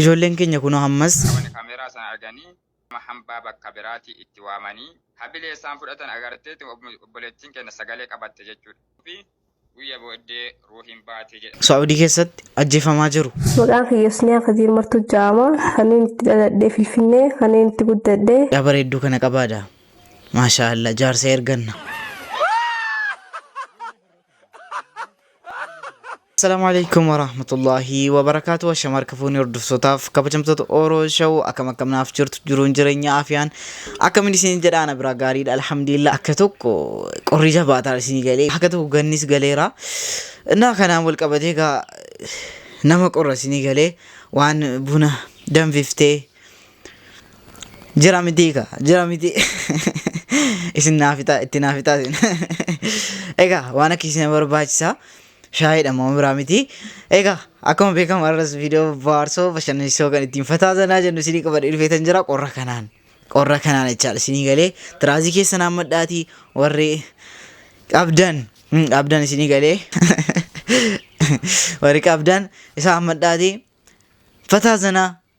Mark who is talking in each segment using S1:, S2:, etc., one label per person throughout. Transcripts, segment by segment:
S1: Ijoolleen
S2: keenya kunoo ammas. Namoonni kameeraa sana
S3: arganii nama hambaa bakka biraatii itti waamanii habilee isaan fudhatan agarteeti obboleettiin keenya sagalee qabatte jechuudha. fi guyya booddee ruuhiin baate jedha. Saudi keessatti
S2: ajjeefamaa jiru. Maqaan kiyya Husniyaa
S4: Kadiir Martuu ja'ama. Kanneen itti dhaladhe Finfinnee, kanneen itti guddadhe. Yaa bareedduu kana qabaadha.
S2: Maashaa Allah jaarsa erganna. Assalamu alaikum warahmatullahi wabarakatuh Ashama harka fuunee hordoftotaaf kabajamtoota Oro Show akkam akkam naaf jirtu jiruun jireenya afiyaan akkamiin isin jedha ana biraa gaariidha alhamdulillah akka tokko qorri jabaataa isin galee akka tokko gannis galeera innaa kanaan wal qabatee gaa nama qorra isin galee waan buna danfiftee Jira mitii ka jira mitii isin naafitaa itti naafitaa isin egaa waan akka isin barbaachisaa shaayiidha moo biraa mitii egaa akkuma beekamu har'as viidiyoo baarsoo bashannansiisoo kan ittiin fataa zanaa jennu isinii qabadhee dhufeetan jira qorra kanaan qorra kanaan jechaadha isinii galee tiraazii keessa naammadhaatii warri qabdan mm, qabdan isinii galee warri qabdan isaa hammadhaatii fataa zanaa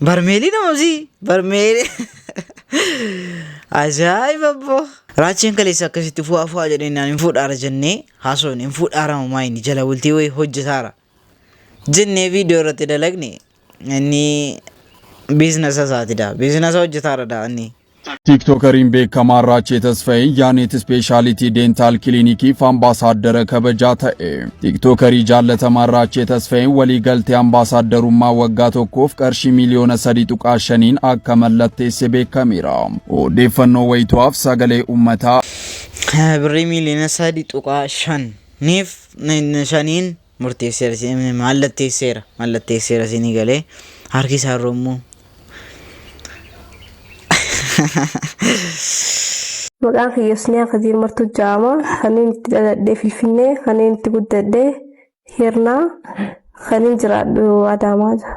S2: Barmeelii namamsii barmeelii. Ajaa'iba boo. Raacheen kaleessa akkasitti fu'aa fu'aa jedhee naan hin fuudhaara jennee haasofne hin fuudhaara mamaa inni jala bultii wayii hojjetaara. Jennee viidiyoo irratti dalagne inni biiznasa isaati daa biiznasa hojjetaara daa inni. Tiiktookariin
S5: beekamaan Raachee Tasfayee Yaaneet Ispeeshaalitii Deentaal Kiliinikiif ambaasaaddara kabajaa ta'e. Tiiktookarii jaallatamaan Raachee Tasfayee waliigaltee ambaasaaddarummaa waggaa tokkoof qarshii miiliyoona 3.5n akka mallatteesse beekameera. Odeeffannoo wayituwaaf sagalee uummataa.
S2: Birrii miiliyoona 3.5niif shaniin murteesseera si- eh, mallatteesseera mallatteesseera siinii galee harki isaa irra immoo
S4: Maqaan kiyya Husniyaa Kadir Martuu Jaama. Kanin itti dhaladhee Finfinnee, kanin itti guddadhee Hirnaa, kanin jiraadhu Adaamaa jira.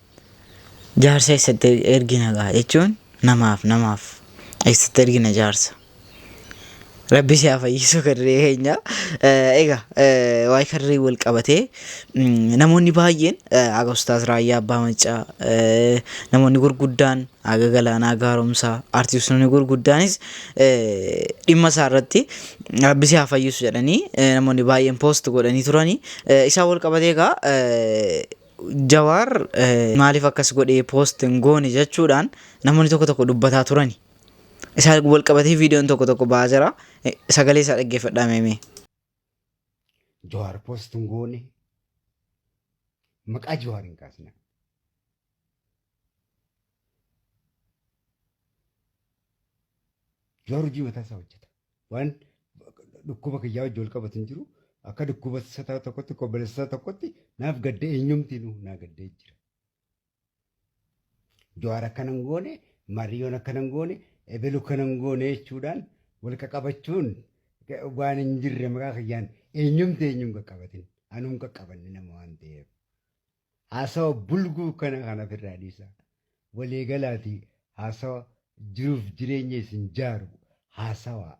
S2: Jaarsa eessatti ergina gaa jechuun namaaf namaaf eessatti ergina jaarsa. Rabbi si haa fayyisu karree keenya. Egaa waa'ee karree wal qabatee namoonni baay'een haga ustaas raayyaa abbaa maccaa namoonni gurguddaan haga galaanaa gaaromsaa artistoonni gurguddaanis dhimma isaa irratti rabbi si haa fayyisu jedhanii namoonni baay'een poost godhanii turanii isaan wal qabatee egaa Jawaar maaliif akkas godhee post hin goone jechuudhaan namoonni tokko tokko dubbataa turani. Isaa wal qabatee viidiyoon tokko tokko ba'aa jira. Eh, Sagalee isaa dhaggeeffadhaa meemee.
S1: Jawaar post hin goone. Maqaa Jawaar hin kaasne. Jawaar hojii mataa isaa hojjeta. Waan dhukkuba kiyyaa wajji wal qabatu hin jiru. Akka dhukkuba sataa tokkotti, obboleessa isaa tokkotti naaf gadda eenyumtiinuu naa gaddee jira. Jawaar akkana hin goone, Maariyyoon akkana hin goone, Ebelu akkana hin goone jechuudhaan wal qaqabachuun waan hin jirre maqaa kiyyaan eenyumti eenyuun qaqqabatin anuu hin qaqqabanne nama waan ta'eef. Haasawa bulguu kana kana ofirraa dhiisaa. Walii galaatii haasawa jiruuf jireenya isin jaaru haasawaa.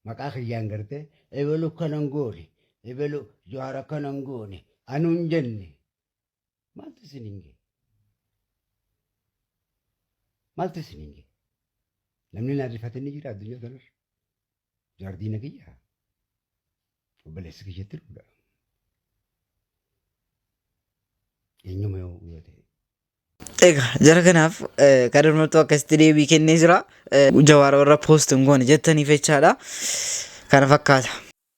S1: Maqaa kiyyaan gartee ebelu akkana hin goone, ebelu Jawaar akkana hin goone, anu hin jenne. Maaltu isin hin ga'e? Maaltu isin hin ga'e? Namni naan rifate ni jira addunyaa kanarra. Jaardiina kiyya obboleessi kiyyatti dhuudha. Eenyuma yoo yoo ta'e. Egaa
S2: jara kanaaf eh, kan mormattu akkasitti deebii kennee jira. Eh, Jawaara warra poost hin goone jettaniif jechaadha. Kana fakkaata.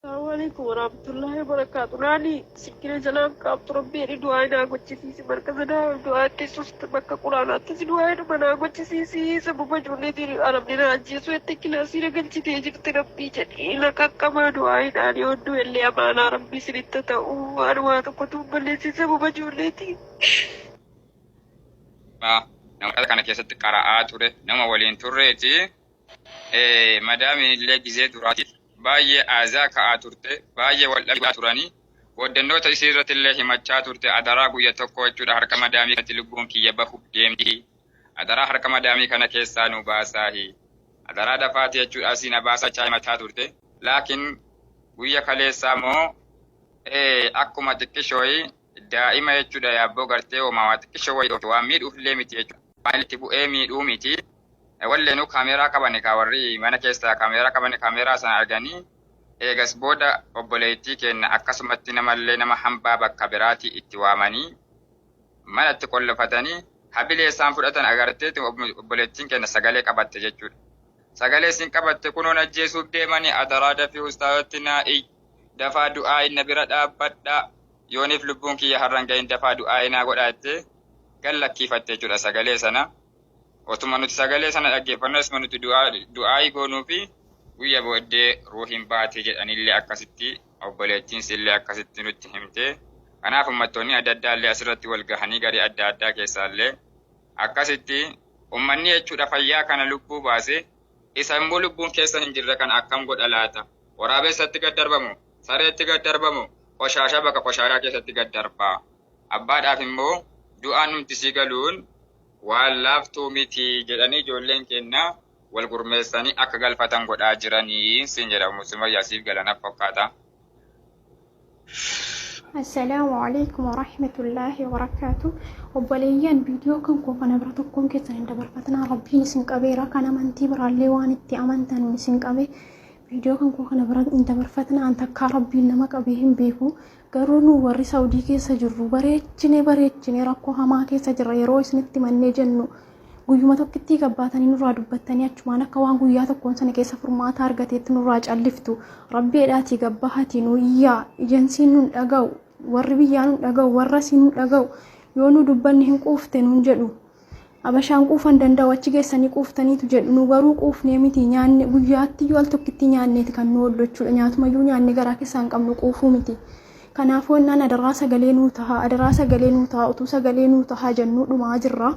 S2: Assalamualaikum
S6: warahmatullahi wabarakatuh. Nani Sikkina jalaaf qaabtu rabbi jedhi du'aa naa gochisiisi markaza daawal du'aa keessusti bakka quraanaattis du'aa hedhuma naa gochisiisi sababa ijoolleetiin arabni naa ajjeesuu jettee kilaasii na galchitee jirti rabbii jedhii na qaqqabaa du'aa hidhaanii odduu ellee amaanaa rabbii sinitta ta'u waan waa tokkotuu balleessin sababa ijoolleetiin.
S3: Nama markaza kana keessatti qara'aa ture nama waliin turreeti. madaamiin illee gizee duraatiif baay'ee aazaa ka'aa turte baay'ee wal dhabaa turanii booddannoota isii irratti illee himachaa turte adaraa guyya tokko jechuudha harka madaamii kanatti lubbuun kiyya bahuuf deemti adaraa harka madaamii kana keessaa nu baasaahi adaraa dafaati jechuudha asii na baasaa jechaa himachaa turte laakiin guyya kaleessaa moo akkuma xiqqishooyi daa'ima jechuudha yaabboo gartee homaa waa xiqqishoo wayii waan miidhuuf illee miti jechuudha waan itti bu'ee miidhuu miti Walleenuu kaameeraa qabani kaa warri mana keessa kaameeraa qabani kaameeraa sana argani eegas booda obboleeytii keenna akkasumatti namallee nama hambaa bakka biraatii itti waamani mana itti qollofatani habilee isaan fudhatan agarteeti obboleettiin keenna sagalee qabatte jechuudha. Sagalee isin qabatte kunoon ajjeesuuf deemani adaraa dafii ustaazatti naa iy dafaa du'aayin na bira dhaabbadhaa yooniif lubbuun kiyya harran gahin dafaa du'aayi naa godhaa jettee gad lakkiifatte jechuudha sagalee sana. Otuma nuti sagalee sana dhaggeeffannoo isuma nuti du'aa'ii goonuu fi guyya booddee ruuhiin baatee jedhanillee akkasitti obboleettiins illee akkasitti nutti himte. Kanaaf ummattoonni adda addaa illee asirratti wal gahanii garee adda addaa keessaa illee akkasitti ummanni jechuudha fayyaa kana lubbuu baase isa immoo lubbuun keessa hin jirre kana akkam godha laata? Waraabessatti gad darbamu, sareetti gad darbamu, qoshaashaa bakka qoshaashaa keessatti gad darbaa. Abbaadhaaf immoo du'aan numti sii galuun Waan laaftuu miti jedhanii ijoolleen keenna wal gurmeessanii akka galfatan godhaa jiranii siin jedha Ummu Sumayyaa siif gala naf fakkaata.
S7: Assalaamu alaikum warahmatullaahi wabarakaatu obboleeyyan viidiyoo kan koo kana bira tokkoon keessan hin dabarfatinaa rabbiin isin qabeera kan amantii biraallee waan itti amantan isin qabe viidiyoo kan koo kana bira hin dabarfatinaa an takkaa rabbiin nama qabee hin beeku Garuu nu warri Saudii keessa jirru bareechine bareechine rakkoo hamaa keessa jirra yeroo isinitti mannee jennu guyyuma tokkittii gabbaatanii nurraa dubbattanii achumaan akka waan guyyaa tokkoon sana keessa furmaata argateetti nurraa calliftu rabbi edhaatii gabbahatii nu iyyaa ejensiin nun dhaga'u warri biyyaa nun dhaga'u warra siin nun dhaga'u yoo nu dubbanne hin quufte nun jedhu Abashaan quufa hin danda'u achi geessanii quuftaniitu jedhu nu garuu quufnee miti nyaanne guyyaatti iyyuu al tokkittii nyaanneeti kan nu oollu jechuudha nyaatuma iyyuu nyaanne garaa keessaa hin qabnu quufuu miti. Kanaafuu innaan adaraa sagalee nuu tahaa adaraa sagalee nuu tahaa utuu sagalee nuu tahaa jennuu dhumaa jirra.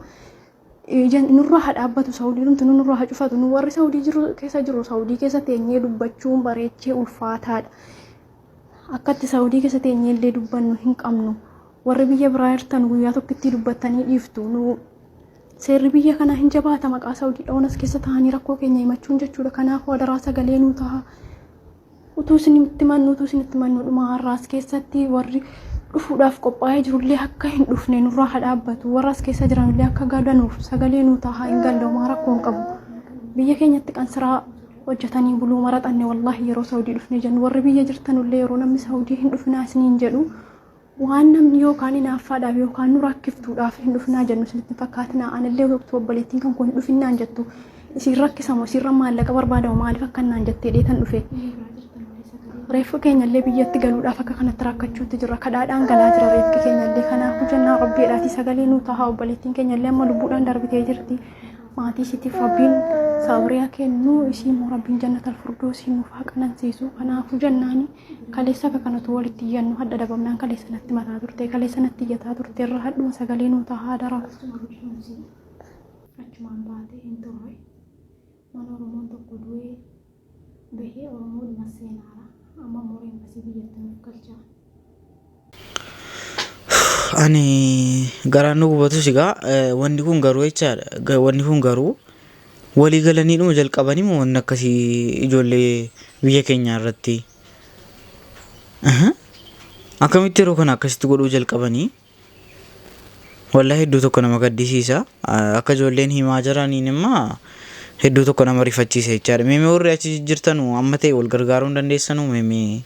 S7: Nurraa haa dhaabbatu saawudii dhumtu nurraa haa cufatu nu warri saawudii jiru keessa jiru saawudii keessa teenyee dubbachuun bareechee ulfaataadha. Akkatti Saudi keessa teenyee illee dubbannu hin qabnu. Warri biyya biraa jirtan guyyaa tokkittii dubbattanii dhiiftu. Nu seerri biyya kanaa hin jabaata maqaa Saudi dhawan as keessa taa'anii rakkoo keenya himachuun jechuudha. Kanaaf wadaraa sagalee nuu ta'a. Utuu isin itti mannu utuu isin itti mannu dhuma har'aa as keessatti warri dhufuudhaaf qophaa'ee jirullee akka hin dhufne nurraa haa dhaabbatu. Warra as keessa jiranillee akka gadanuuf sagalee nuu ta'a hin galdooma rakkoo hin qabu. Biyya keenyatti qansiraa hojjatanii buluu maraxanne wallaahi yeroo saudii dhufne jennu warri biyya jirtanullee yeroo namni saudii hin dhufinaa isiniin jedhu waan namni yookaan inaaffaadhaaf yookaan nu rakkiftuudhaaf hin dhufinaa jennu isinitti hin fakkaatinaa anillee yookiin obboleettiin kan kun hin dhufinnaan jettu isin rakkisamu isinra maallaqa barbaadamu maaliif akka naan jettee dheetan dhufe reeffi keenyallee biyyatti galuudhaaf akka kanatti rakkachuutti jirra kadhaadhaan galaa jira reeffi keenyallee kanaafuu jennaa rabbiidhaati sagalee nuu tahaa obboleettiin keenyallee amma lubbuudhaan darbitee jirti maatii ishiitiif rabbiin sabriyaa kennu ishii immoo rabbiin jannatal furdoosii nuuf haa qanansiisu kanaafuu jennaani kaleessa akka kanatu walitti iyyannu hadha dhabamnaan kaleessa natti mataa turte kaleessa natti iyyataa turte irra hadhuma sagalee nuu tahaa dara achumaan baatee hin turre mana oromoon tokko du'ee Bahee oromoo dhuma seenaara amma moora embasii biyyatti nuuf galchaa.
S2: Ani garaan nu gubatus egaa wanni kun garuu jechaadha wanni kun garuu walii galanii dhuma jalqabanii moo wanni akkasii ijoollee biyya keenyaa irratti akkamitti yeroo kana akkasitti godhuu jalqabanii Wallahi hedduu tokko nama gaddisiisa. Akka ijoolleen himaa jiraniin immaa hedduu tokko nama rifachiisa jechaadha. Mee mee warri achi jirtanu amma ta'e wal gargaaruu hin dandeessanu mee mee.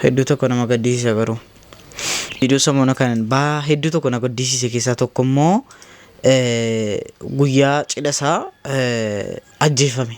S2: Hedduu tokko nama gaddisiisa garuu. Viidiyoo samoona kan baa hedduu tokko na gaddisiise keessaa tokko immoo guyyaa cidha isaa ajjeefame.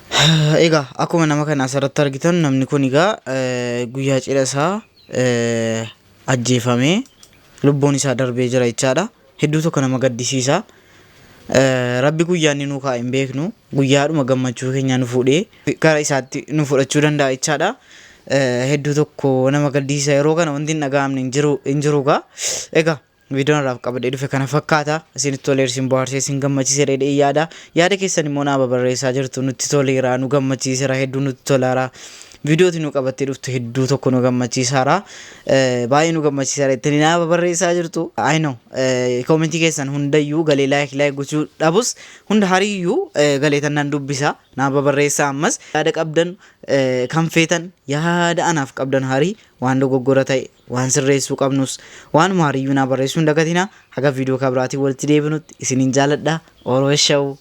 S8: Egaa
S2: akkuma nama kana asirratti argitan namni kun egaa guyyaa cidha isaa ajjeefamee lubbuun isaa darbee jira jechaadha. Hedduu tokko nama gaddisiisa. Rabbi guyyaa inni nuu kaa'e hin beeknu guyyaadhuma gammachuu keenya nu fuudhee gara isaatti nu fudhachuu danda'a jechaadha. Hedduu tokko nama gaddisiisa yeroo kana wanti hin dhaga'amne hin jiru hin jiru egaa. Egaa Viidiyoon irraaf qabadhee dhufe kana fakkaata. Isinitti tolee isin bohaarsee isin gammachiise dheedhee yaada. Yaada keessan immoo naa babarreessaa jirtu nutti toleera nu gammachiisera hedduu nutti tolaara. Viidiyooti nu qabattee dhuftu hedduu tokko nu gammachiisaara. Baay'ee nu gammachiisaara ittini naa babarreessaa jirtu. I know koomentii keessan hundayyuu galee laayik laayik gochuu dhabus hunda hariyyuu galeetan nan dubbisa naa babarreessaa ammas yaada qabdan kan feetan yaada anaaf qabdan harii Waan dogoggora ta'e, waan sirreessuu qabnus waanuma hariyyuu naa barreessuu hin dagatinaa. Haga viidiyoo ka biraatiin walitti deebinutti isinin jaaladha. Oro Eshawu!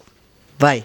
S2: Bye!